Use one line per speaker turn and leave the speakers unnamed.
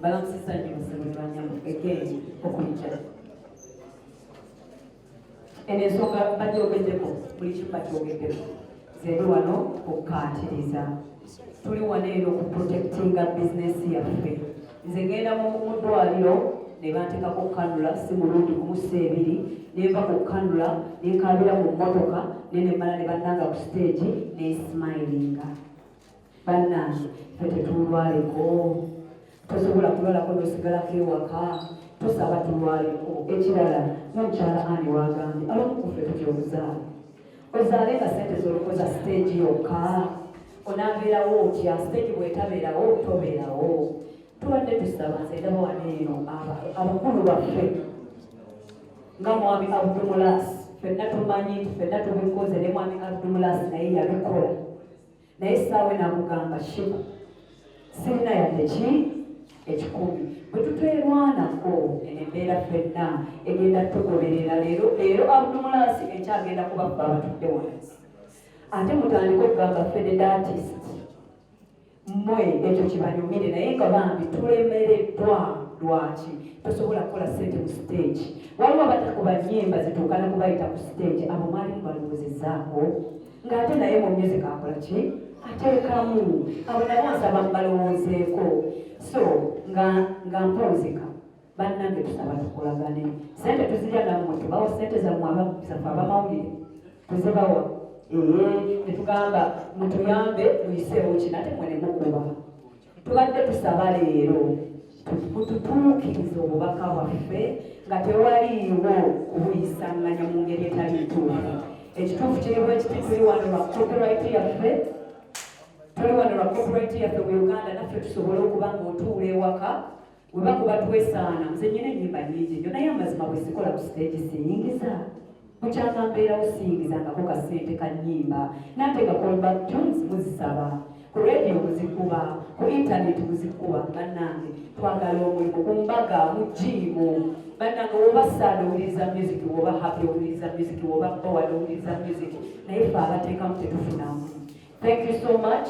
balamusisa nnyo basebo ne banyamu egeeni okuyita eno ensonga bagyogeddeko buli kimu bakyogeddeko zebe wano okukatiriza tuli wano eno ku protectinga bizinesi yaffe nze ngenda mu ddwaliro ne banteekako okukanula si mulundi kumusa ebiri ne nva ku kukanula ne nkaabira mu mmotoka ne ne mmala ne bannanga ku siteegi ne simayiringa bannange fe tetulwaleko tosobola kulwalako nosigalako ewaka tosaba tulwaleko ekirala nomukyala ani wagambye abamukufe tutyobuzaala ozaale nga sente zolokoza siteegi yokka onabeerawo otya siteegi bwetabeerawo tobeerawo tubadde tusaba nze ndaba wano eno abakulu baffe nga mwami abdumulas fenna tumanyi nti fenna tubikoze ne mwami abdumulas naye yabikola naye saawe namugamba shiba sirina yadde ki ekikumi bwe tutwerwanako eno embeera fenna egenda tugoberera leero leero abdumulaasi ekyagenda kubabba abatudde wansi ate mutandika okugamba fededatis mwe ekyo kibanyumire naye nga bambi tulemereddwa lwaki tosobola kukola sente mu stage waliwo abatakuba nyimba zituukana kubayita ku stage abo mwalimu balowoozezaako ng'ate naye mu music akola ki ateekamu abo nabo nsaba mbalowoozeeko so nga nga mponzeka bannange tusaba tukolagane sente tuzirya nammwe tubawa sente zammwe abazaffe abamawulire tuzibawa ee netugamba mutuyambe muyiseewo kino ate mwe nemukuba tubadde tusaba leero mututuukirize obubaka bwaffe nga tewaliiwo kubuyisanganya mu ngeri etali ntuufu ekituufu kiri bwekiti tuli wano lwa copyright yaffe tuli wano lwa copyright yaffe mu uganda naffe tusobole okuba nga otuula ewaka weba kuba twesaana nze nyina enyimba nyingi nyo naye amazima bwesikola ku siteegi siyingiza mukyanga mbeerawo siyingizangako ka ssente ka nyimba nate nga callback jones muzisaba ku radio muzikuba ku intaneti muzikuba bannange twagala omulimu ku mbaga mu jiimu bannange woba saada owuliriza music woba happy owuliriza music woba bowad owuliriza music naye fe abateekamu tetufunamu thank you so much